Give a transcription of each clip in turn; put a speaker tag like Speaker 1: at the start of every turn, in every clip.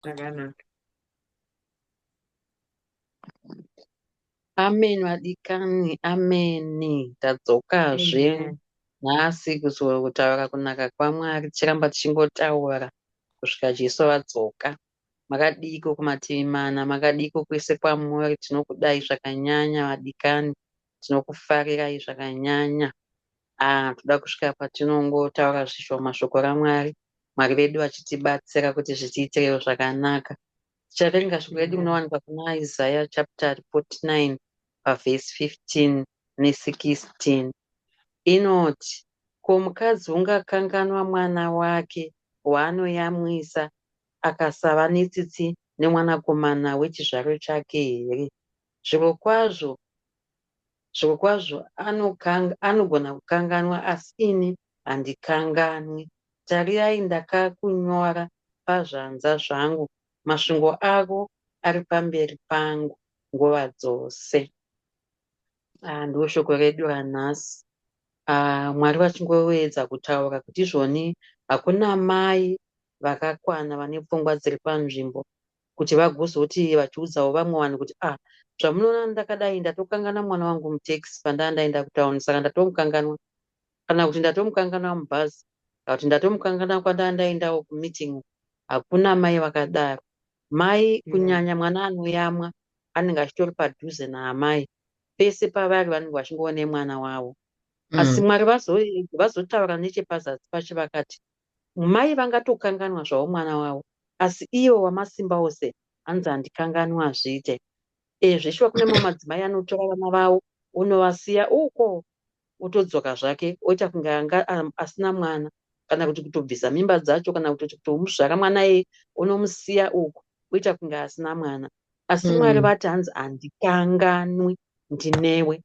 Speaker 1: Zvakanaka. Amen vadikani, amen. Tadzokazve Amen.
Speaker 2: nhasi kuzo-
Speaker 1: kutaura kunaka kwaMwari tichiramba tichingotaura kusvika Jesu vadzoka. Makadiiko kumativi mana, makadiiko kwese kwamuri, tinokudai zvakanyanya vadikani. Tinokufarirai zvakanyanya. Ah, toda kusvika patinongotaura zvishoma shoko raMwari. Mwari vedu vachitibatsira kuti zvitiitirewo zvakanaka. Tichaverenga shoko redu rinowanikwa kuna Isaiah chapter 49 pavhesi 15 ne16. Inoti, ko mukadzi ungakanganwa mwana wake waanoyamwisa akasava netsitsi nemwanakomana wechizvaro chake here? Zvirokwazvo, zvirokwazvo, anokanga, anogona kukanganwa, asi ini handikanganwi. Tarirai, ndakakunyora pazvanza zvangu, mashungo ako ari pamberi pangu nguva dzose. Ah, ndiwo shoko redu ranhasi. Ah, Mwari vachingoedza kutaura kuti izvoni hakuna mai vakakwana vane pfungwa dziri panzvimbo kuti vagozoti vachiudzawo vamwe vanhu kuti ah zvamunoona ndakadai ndatokangana mwana wangu mutaxi pandaa ndaenda kutown saka ndatomukanganwa kana kuti ndatomukanganwa mubhazi kana kuti ndatomukanganwa kwandaa ndaendawo kumeeting hakuna mai vakadaro mai mm. kunyanya mwana
Speaker 2: anoyamwa
Speaker 1: anenge achitori padhuze naamai pese pavari vanenge vachingoona mwana wavo mm. asi mwari vazotaura nechepazasi pacho vakati Mai vangatokanganwa zvavo mwana wavo asi iye waMasimbaose hanzi handikanganwi hazviite. Eeh zveshuwa kune mamwe madzimai anotora vana vavo onovasiya uko otodzoka zvake oita kunge anga asina mwana kana kuti kutobvisa mimba dzacho kana kutoti kutomuzvara mwana iyeye onomusiya uko oita kunge asina mwana. asi mwari mm. vati hanzi handikanganwi ndinewe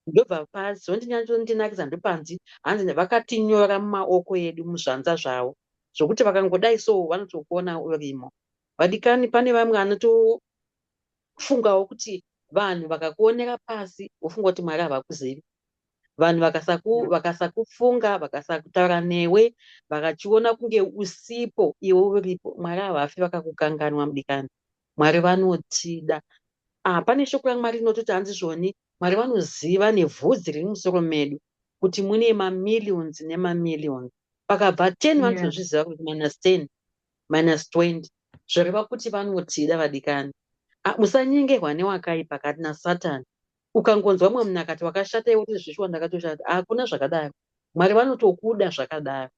Speaker 1: ndobva pazondinyatsondinakidza ndopanzi hanzi vakatinyora mumaoko edu muzvanza zvavo zvokuti vakangodai so vanotokuona urimo vadikani pane vamwe anotofungawo kuti vanhu vakakuonera pasi wofunga kuti mwari havakuzivi vanhu vakasakufunga vakasaku vakasakutaura newe vakachiona kunge usipo iwe uripo mwari havafi vakakukanganwa mudikani Mwari vanotida. Ah, pane shoko yaMwari inototi hanzi zvoni, Mwari vanoziva nevhudzi riri musoro medu kuti mune mamillions nemamillions. Pakabva 10 yeah. vanotozviziva kuti minus
Speaker 2: 10,
Speaker 1: minus 20. Zvoreva kuti vanotida vadikani. Ah, musanyengerwa newakaipa kati naSatan. Ukangonzwa mwe munhu akati wakashata iwe kuti zvishuwa ndakatoshata. Hakuna ah, zvakadaro. Mwari vanotokuda zvakadaro.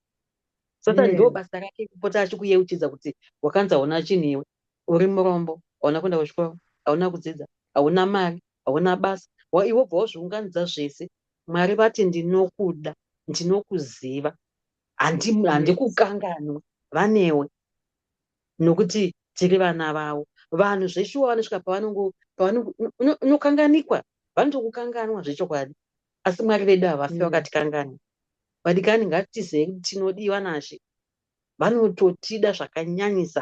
Speaker 1: Satan yeah. ndoo basa rake
Speaker 2: kupota
Speaker 1: achikuyeuchidza kuti wakanzaona chinhu iwe. Uri murombo, hauna kuenda kuchikoro, hauna kudzidza, hauna mari, hauna basa. Why iwe wobva wazviunganidza zvese. Mwari vati ndinokuda, ndinokuziva, handi,
Speaker 2: handikukanganwe
Speaker 1: vanewe nokuti tiri vana vavo. Vanhu zveshuwa vanosvika pavanongo, pavanongo, uno- unokanganikwa, vanotokukanganwa zvechokwadi. Asi Mwari vedu havafi Mm. vakatikanganwa. Vadikani, ngatitizei kuti tinodiwa naShe. vanototida zvakanyanyisa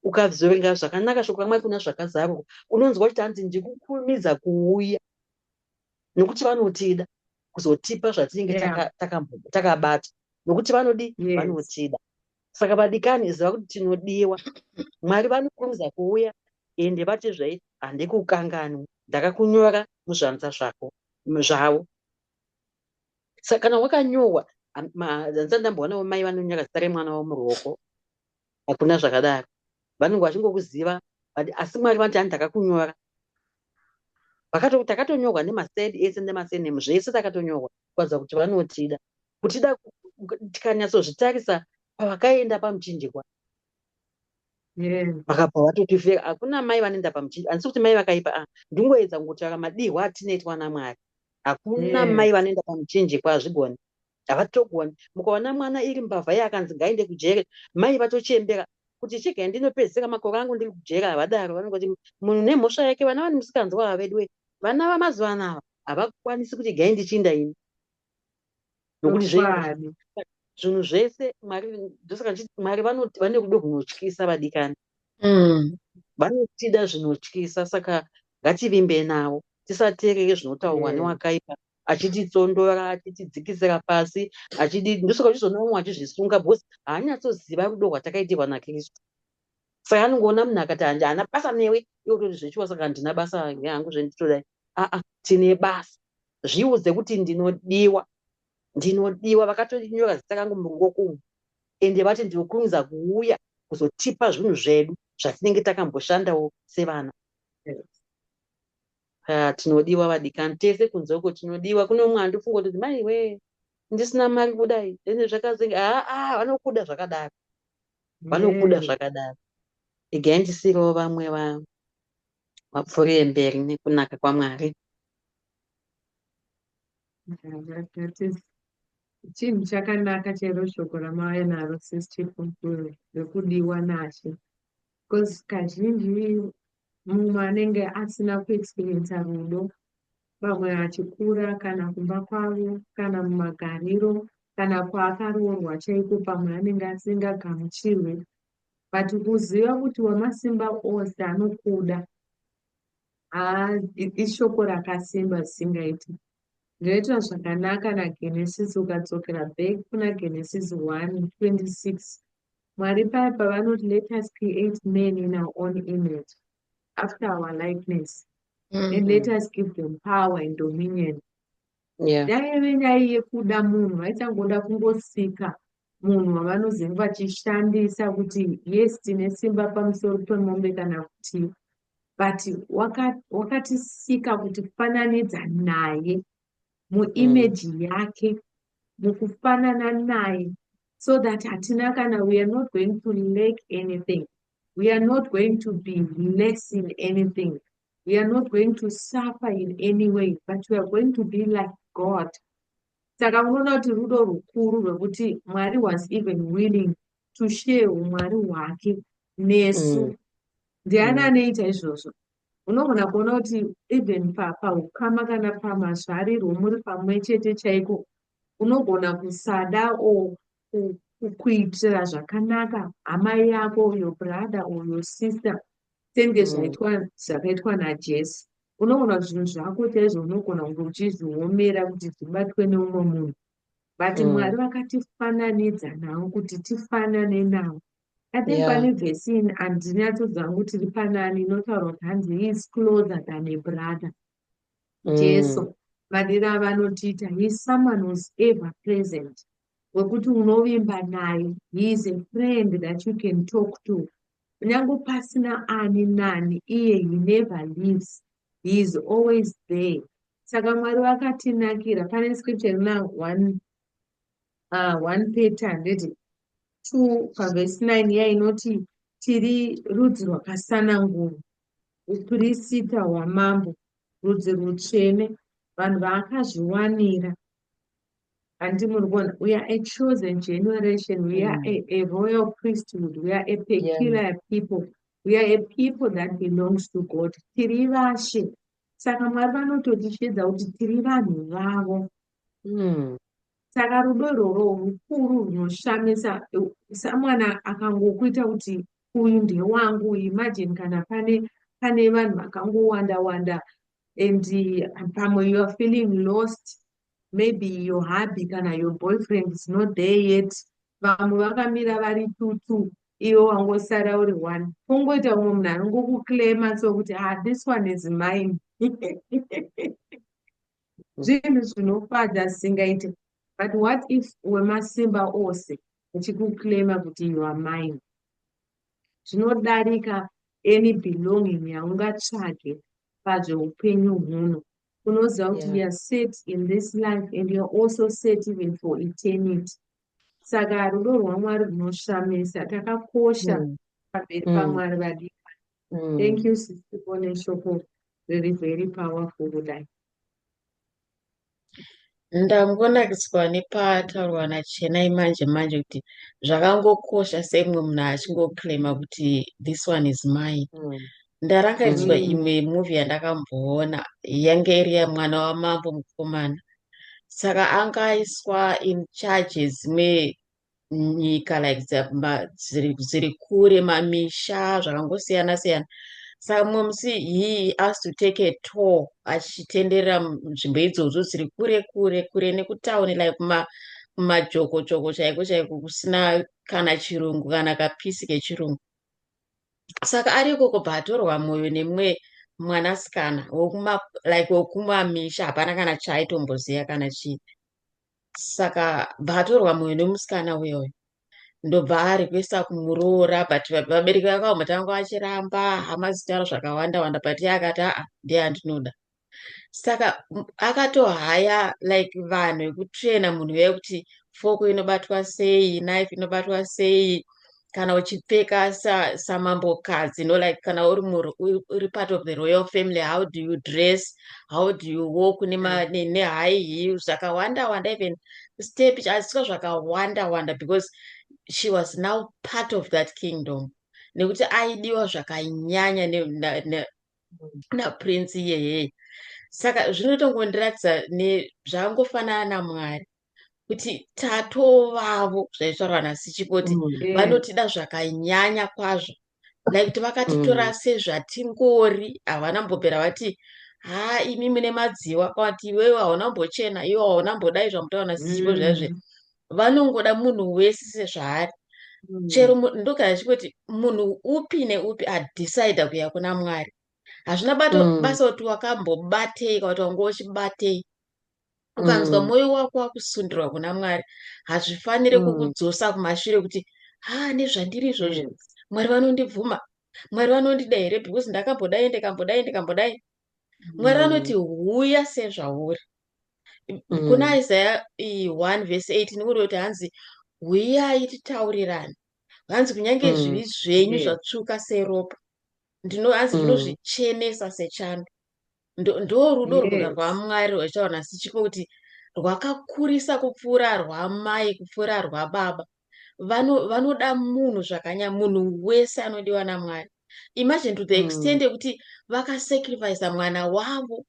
Speaker 1: ukazoverenga zvakanaka shoko ramwari kuna zvakazarurwa unonzwa kuti hanzi ndikukurumidza kuuya nokuti vanotida kuzotipa zvatinenge
Speaker 2: takabata
Speaker 1: nokuti vanodi vanotida
Speaker 2: saka
Speaker 1: vadikani ziva kuti tinodiwa mwari vanokurumidza kuuya ende vati zvai handikukanganwi ndakakunyora muzvanza zvako zvavo saka kana wakanyohwa handisati ndamboonavo mai vanonyaka zita remwana wavo muruoko hakuna zvakadaro vanenge vachingokuziva asi mwari vanoti ani takakunyora takatonyorwa nemased ese nemasenem zvese takatonyorwa kuratidza kuti vanotida kutida tikanyatsozvitarisa pavakaenda pamuchinjikwa
Speaker 2: vakabva vatoti
Speaker 1: feka hakuna mai vanoenda pamuchii handisi kuti mai vakaipa a ndingoedza kungotsvaka madihwa atinoitwa ana mwari hakuna mai vanoenda
Speaker 2: pamuchinjikwa
Speaker 1: hazvigoni havatogoni mukaona mwana iri mbavha ye akanzi ngaende kujere mai vatochembera kuti chega ndinopedzisira makore angu ndiri kujere havadaro vanenge kuti munhu nemhosva yake vana vani musikanzwa hava veduwe vana vamazuva ano ava havakwanisi kuti gai ndichiinda ini nokuti zvinhu
Speaker 2: zvese
Speaker 1: mwari ndosaka chiti mwari vanoti vane rudo rwunotyisa vadikani mm. vanotida zvinotyisa saka ngativimbe navo tisateerere zvinotaurwa mm. newakaipa achititsondora achitidzikisira pasi achidi ndosaka uchizoona vamwe achizvisunga because haanyatsoziva rudo rwatakaitirwa nakristu Fai anongoona munhu akati handi haana basa newe iwe utoti zvechiwa saka handina basa yangu zvenditodai aa tine basa zviudze kuti ndinodiwa ndinodiwa vakatonyora zita kangu murungoko umu ende vati ndinokurumidza kuuya kuzotipa zvinhu zvedu zvatinenge takamboshandawo sevana ah, tinodiwa vadikani tese kunze uko tinodiwa kune umwe andifunga kuti mai wee ndisina mari kudai ende zvakazenge aa ah, ah, vanokuda zvakadaro vanokuda zvakadaro regai ndisirewo vamwe vapfuurire mberi nekunaka kwamwari
Speaker 3: chinhu chakanaka chero shoko ramauya naro sis chipupuro rekudiwa nashe bcause kazhinji mumwe anenge asina kuexperiensa rudo pamwe achikura kana kumba kwavo kana mumagariro kana kwaakaroorwa chaiko pamwe anenge asingagamuchirwe but kuziva kuti wamasimba ose anokuda ishoko rakasimba zisingaiti ndinoita zvakanaka nagenesis ukadzokera back kuna genesis 1 26 mwari paya pavanoti let us create man in our own image after our likeness mm -hmm. and let mm-hmm. us give them power and dominion yeah. yaive nyaya yekuda munhu vaichangoda kungosika munhu wavanozenge vachishandisa kuti yes tine simba pamusoro pemombe kana kuti but wakatisika waka kuti fananidza naye muimeji mm. yake mukufanana naye so that hatina kana we are not going to lake anything We are not going to be less in anything. We are not going to suffer in any way, but we are going to be like God. Saka unoona kuti rudo rukuru rwekuti Mwari was even willing to share umwari hwake nesu. Mm. Ndiani mm. anoita izvozvo? Unogona kuona kuti even paukama kana pamazvarirwo muri pamwe chete chaiko unogona kusada o kuitira zvakanaka hama yako uyo brother uyo sister senge mm. zvaitwa zvakaitwa najesu unoona zvinhu zvako chaizvo unogona kunge uchizviomera kuti zvibatwe neumwe munhu but mm. mwari vakatifananidza navo kuti tifanane navo i think pane yeah. vesin handinyatsodza ngu tiri panani inotaura kuti hanzi he is closer than a brother mm. jesu vadira vanotiita he is someone who's ever present wekuti unovimba naye he is a friend that you can talk to kunyange pasina ani nani iye he never leaves he is always there saka mwari vakatinakira pane scripture rina one, uh, one peter handiti two pavhesi nine iya inoti tiri rudzi rwakasanangurwa upirisita hwamambo rudzi rutsvene vanhu vaakazviwanira handi muri kuona we are a chosen generation we are mm. a, a royal priesthood we are a peculiar yeah. people we are a people that belongs to god tiri vashe saka mwari vanototichiedza kuti tiri vanhu vavo mm. saka rudo irworo rukuru runoshamisa samwana akangokuita kuti uyu ndewangu imagine kana pane pane vanhu vakangowanda wanda and uh, pamwe you are feeling lost maybe your hubby kana your boyfriend is not there yet vamwe vakamira vari tutu iwe wangosara uri one kungoita umwe munhu anongokukilema so kuti ah this one is mine zvinhu zvinofadza zvisingaite but what if wemasimba ose achikukilema kuti you are mine zvinodarika any belonging yaungatsvage pazveupenyu huno unoziva kuti yeah. youare set in this life and youare also set even for eternity saka rudo rwamwari runoshamisa takakosha mm. pamberi mm. pamwari vadika mm. thank you sisiko neshoko riri very powerful kudai
Speaker 4: Ndambonakiswa nepataurwa naChenai manje manje kuti zvakangokosha sei mumwe munhu achingoclaima kuti this one is mine. Mm. Ndarangaidzwa mm. imwe movie yandakamboona yange iri yamwana wamambo mukomana. Saka angaiswa in charge dzimwe nyika like dziri kure mamisha zvakangosiyana siyana saka mumwe musi he asked to take a tour achitenderera nzvimbo idzodzo dziri kure kure kure nekutauni like kuma kumajoko joko chaiko chaiko kusina kana chirungu kana kapisi kechirungu saka ari ikoko baatorwa mwoyo nemwe mwanasikana wekuma like wekumamisha hapana kana chaaitombozia kana chii saka bvatorwa mwoyo nemusikana uya uya ndobva arequesta kumuroora but vabereki vake vamwe tanga vachiramba hama zitaura zvakawanda wanda but iye akati aa ndiye andinoda saka akatohaya like vanhu vekutraina munhu uya kuti foko inobatwa sei knife inobatwa sei kana uchipfeka samambokadzi you know like kana uri uri part of the royal family how do you dress how do you walk nehigh heel zvakawanda wanda even step asika zvakawanda wanda because she was now part of that kingdom nekuti aidiwa zvakanyanya naprince iyeyeye saka zvinotongondiratidza zvakangofanana namwari kuti tatovavo zvaitaurwa nasichikoti mm. eh. vanotida zvakanyanya kwazvo nekuti vakatitora mm. sezvatingori havana mbopera vati haa imi mune madziwa kwati iwewe hauna mbochena iwe hauna mbodai zvamutoona sichipo mm. zvaizve vanongoda munhu wese sezvaari mm. chero ndogara chikoti munhu upi neupi adecide kuya kuna mwari hazvina bato mm. basa kuti wakambobatei kwati wanga uchibatei ukanzwa mm. mwoyo wako wakusundirwa kuna mwari hazvifanire mm. kukudzosa kumashure kuti ha nezvandiri izvozvo mm. mwari vanondibvuma mwari vanondida here because ndakambodai ndikambodai ndikambodai mwari mm. vanoti huya sezvauri mm. kuna isaya 1 vese 8 ndikuri kuti hanzi huyai titaurirane hanzi kunyange mm. zvivi zvenyu zvatsvuka seropa ndinohanzi mm. ndinozvichenesa sechando ndorudo rwuda rwamwari rwachaona sichiko kuti rwakakurisa kupfuura rwamai kupfuura rwababa vanoda munhu zvakanya munhu wese anodiwa namwari imagine to the hmm. extent yekuti vakasacrifice mwana wavo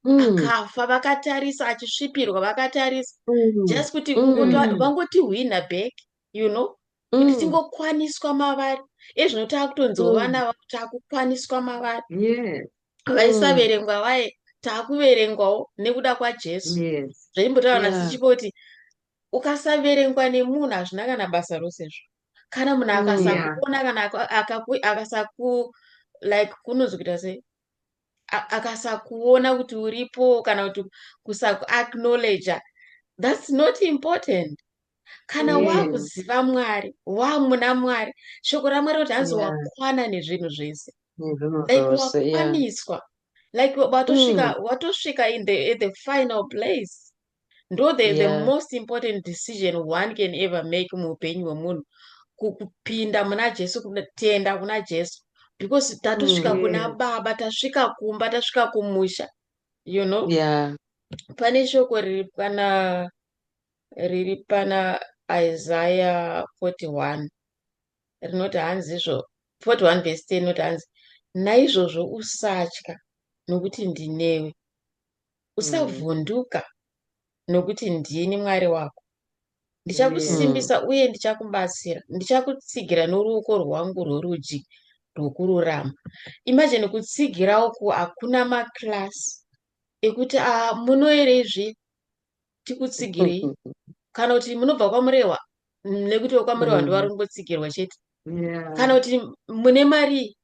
Speaker 4: hmm. akafa vakatarisa achisvipirwa vakatarisa hmm. just kuti vangotihwina back you know kuti mm. tingokwaniswa mavari iye zvino taakutonziwo mm. vana vavo taakukwaniswa mavari vaisaverengwa mm. vaye taakuverengwawo nekuda kwajesu zvaimbotaura na sichipo kuti ukasaverengwa nemunhu hazvina kana basa rose zvo kana munhu akasakuona kana akasaku like kunonzi kuita sei akasakuona kuti uripo kana kuti kusakuacknowledge thats not important kana mm. wakuziva mwari wamuna mwari shoko ramwari kuti hanzi yeah. wakwana nezvinhu zvese like wakwaniswa yeah. like watosvika mm. watosvika in the, in the final place ndo the, yeah. the most important decision one can ever make muupenyu hwemunhu kupinda muna jesu kutenda kuna jesu because tatosvika mm. kuna baba tasvika kumba tasvika kumusha you know yeah. pane shoko riri pana riri pana isaya 41 rinoti hanzi izvo 41 vhesi 10 rinoti hanzi naizvozvo usatya nokuti ndinewe usavhunduka mm. nokuti ndini mwari wako ndichakusimbisa mm. uye ndichakubatsira ndichakutsigira noruoko rwangu rworudyi rwokururama imajini kutsigira uku hakuna makilasi ekuti a ah, munoerezve tikutsigirei kana kuti munobva kwamurehwa nekuti wekwamurehwa mm. ndivari kungotsigirwa chete kana kuti mune mari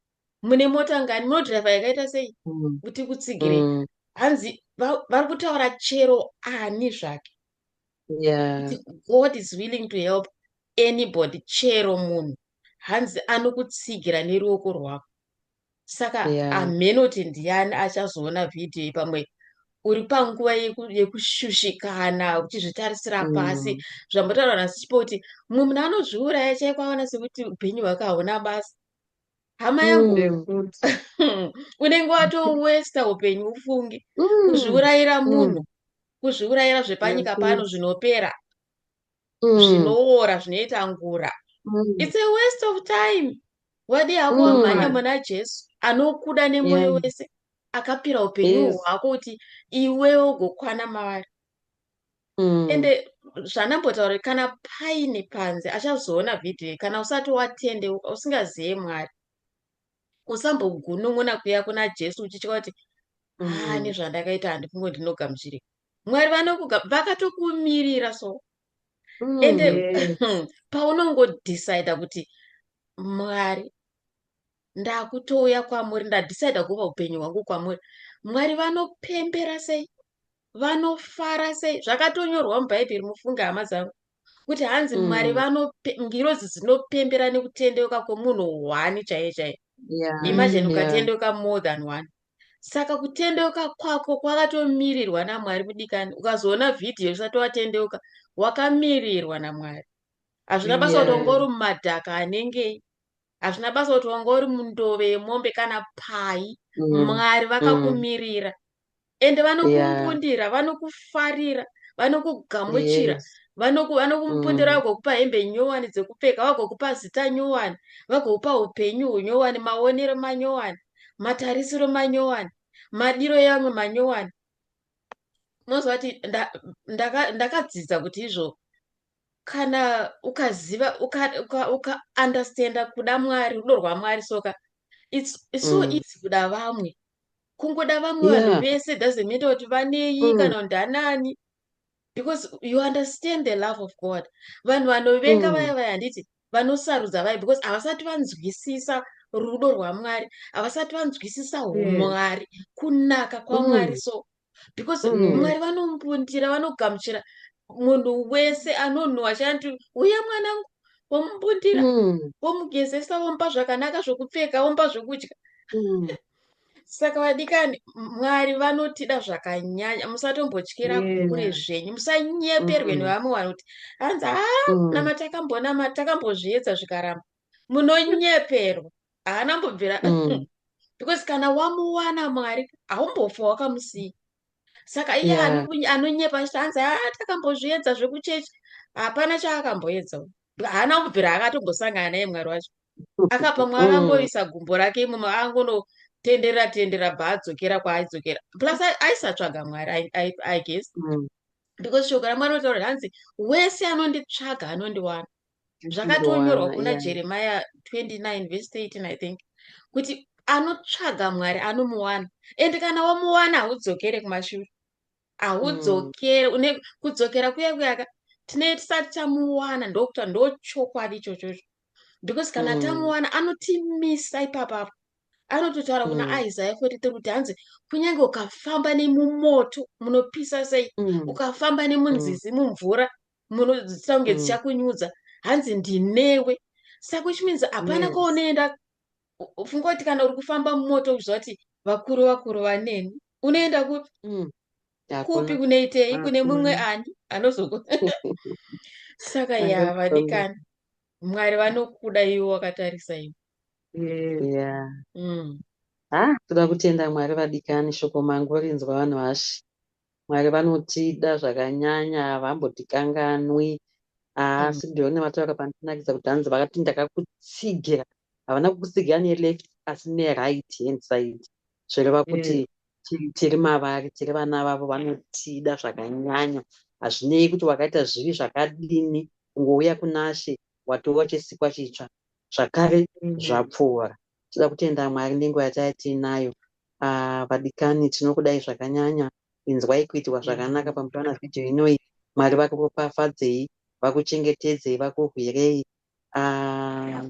Speaker 4: mune mota ngani munodriver yakaita sei mm. kuti kutsigirei mm. hanzi vari kutaura chero ani zvake yeah. god is willing to help anybody chero munhu hanzi anokutsigira neruoko rwako saka yeah. amenoti ndiani achazoona vhidhiyo iyi pamwe uri panguva yekushushikana uchizvitarisira mm. pasi zvambotaura nasichipo kuti mumwe munhu anozviuraya chaiko aona sekuti upenyu hwake hauna basa hama yangu mm. unenge watowesta upenyu ufunge mm. kuzviurayira mm. munhu kuzviurayira zvepanyika pano zvinopera zvinoora zvinoita ngura its a waste of time wadi hako wamhanya muna jesu anokuda nemwoyo wese akapira upenyu hwako kuti iwewe ugokwana mavari mm. ende zvanambotaura kana paine panze achazoona vhidhiyo kana usati watende usingazive mwari usambogunun'una kuya kuna jesu uchitya kuti haa mm. nezvandakaita handifungo ndinogamuchirika mwari vanokuga vakatokumirira so mm. ende hmm, paunongodecida kuti mwari ndakutouya kwamuri ndadecida kuva upenyu hwangu kwamuri mwari vanopembera sei vanofara sei zvakatonyorwa mubhaibheri mufunge hama dzangu kuti hanzi mm. mwari vanongirozi dzinopembera nekutendeuka kwemunhu one chaiye chaiye yeah. imagine
Speaker 1: ukatendeuka
Speaker 4: yeah. more
Speaker 1: than one
Speaker 4: saka kutendeuka kwako kwakatomirirwa namwari mudikani ukazoona vhidhiyo usati watendeuka wakamirirwa namwari hazvina basa kuti ongori mumadhaka anengei hazvina basa kuti wanga uri mundove yemombe kana pai mm. mwari mm. vakakumirira ende vanokukundira yeah. vanokufarira vanokugamuchira yes.
Speaker 1: vanokumupundira
Speaker 4: mm. vagokupa hembe nyowani dzekupfeka vagokupa zita nyowani vagokupa upenyu hunyowani maonero manyowani matarisiro manyowani madiro yamwe manyowani unoziva kuti ndakadzidza kuti izvo kana ukaziva uka, uka, uka understanda kuda mwari rudo rwamwari soka it's, it's so mm. easy kuda vamwe kungoda vamwe vanhu yeah. vese doesn't matter kuti vanei mm. kana ndanani because you understand the love of god vanhu vanovenga mm. vaya vaya handiti vanosarudza vaya because havasati vanzwisisa rudo rwamwari havasati vanzwisisa umwari mm. kunaka kwamwari mm. so because mm. mwari vanombundira vanogamuchira munhu wese anonhuwa chanti uya mwanangu womumbundira mm. womugezesa womupa zvakanaka zvokupfeka womupa zvokudya mm. saka vadikani mwari vanotida zvakanyanya musatombotyira kure zvenyu musanyeperwe mm. nevamwe vanoti hanzi ha mm. namatakamboona takambozviedza zvikaramba munonyeperwa haana mbobvira mm. because kana wamuwana mwari haumbofa wakamusiya saka iye yeah. anonyepa achiti hanzi haa ah, takambozviedza zvekuchechi hapana chaakamboedza haana kubvira akatombosangana naye mwari wacho akapa mwari mm. angoisa gumbo rake imomo angonotenderera tenderera bva adzokera kwaaidzokera plus aisatsvaga mwari i guess mm. because shoko ramwari otaura hanzi wese anonditsvaga anondiwana zvakatonyorwa kuna yeah. jeremiya 29 vhesi 13 i think kuti anotsvaga mwari anomuwana and kana wamuwana haudzokere kumashure haudzokere mm. une kudzokera kuya kuyaka tinee tisati tamuwana ndokuta ndochokwadi ichochocho because kana mm. tamuwana anotimisa ipapapo anototaura kuna mm. isaya 43 kuti hanzi kunyange ukafamba nemumoto munopisa sei mm. ukafamba nemunzizi mm. mumvura munodzidzisa kunge mm. dzichakunyudza hanzi ndinewe saka which means hapana yes. kwaunoenda funga kuti kana uri kufamba mumoto uchiziva kuti vakuru vakuru vaneni unoenda kupi mm. kupi kunoitei kune mumwe ani anozoku saka ya vadikani mwari vanokuda iwo wakatarisa iwo yeah. mm.
Speaker 1: ha ah, toda kutenda mwari vadikani shoko mangu rinzwa vanhu vashi Mwari vanotida zvakanyanya havambotikanganwi asi ndiyo nematoyaka pandinakidza kuti hanzi vakati ndakakutsigira havana kukutsigira neleft asi neright hand side zvireva mm. kuti tiri mavari tiri vana vavo vanotida zvakanyanya hazvinei kuti wakaita zvivi zvakadini kungouya kunashe watova chesikwa chitsva zvakare mm. zvapfuura Tinoda kutenda Mwari nenguva yataiya tiinayo. Ah, vadikani tinokudai zvakanyanya. Inzwai kuitirwa zvakanaka mm. pamusoro na video inoyi. Mwari vakuropafadzei, vakuchengetedzei, vakurwirei. Ah,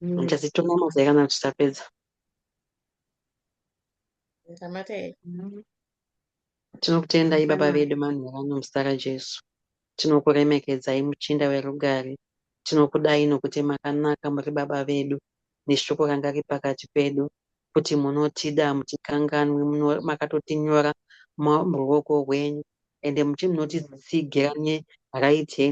Speaker 1: mm. Ndichazituma mazai kana tichapedza. Ndamata here? Mm. Tinokutendai Baba vedu manheru ano muzita raJesu. Tinokuremekedzai muchinda werugare. Tinokudai nokuti makanaka muri Baba vedu neshoko ranga riri pakati pedu kuti munotida hamutikanganwi makatotinyora muruoko rwenyu ende munotitsigira Raite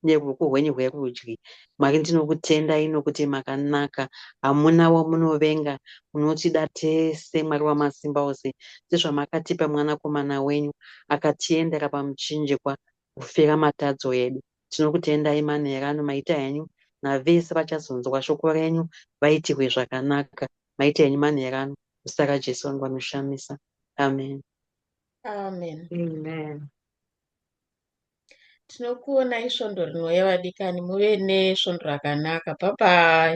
Speaker 1: neruoko rwenyu rwerudyi. Mwari ndinokutendai nokuti makanaka, hamuna wamunovenga, munotida tese, Mwari Wamasimba Ose, sezvamakatipa Mwanakomana wenyu akatiendera pamuchinjikwa kufira matadzo edu. Tinokutendai manheru ano, maita henyu navese vachazonzwa shoko renyu vaitirwe zvakanaka. Maita henyu manheru ano, muzita raJesu vangu vanoshamisa. Amen. Amen. Amen.
Speaker 4: Tinokuonai svondo rinouya vadikani muve nesvondo rakanaka bye bye.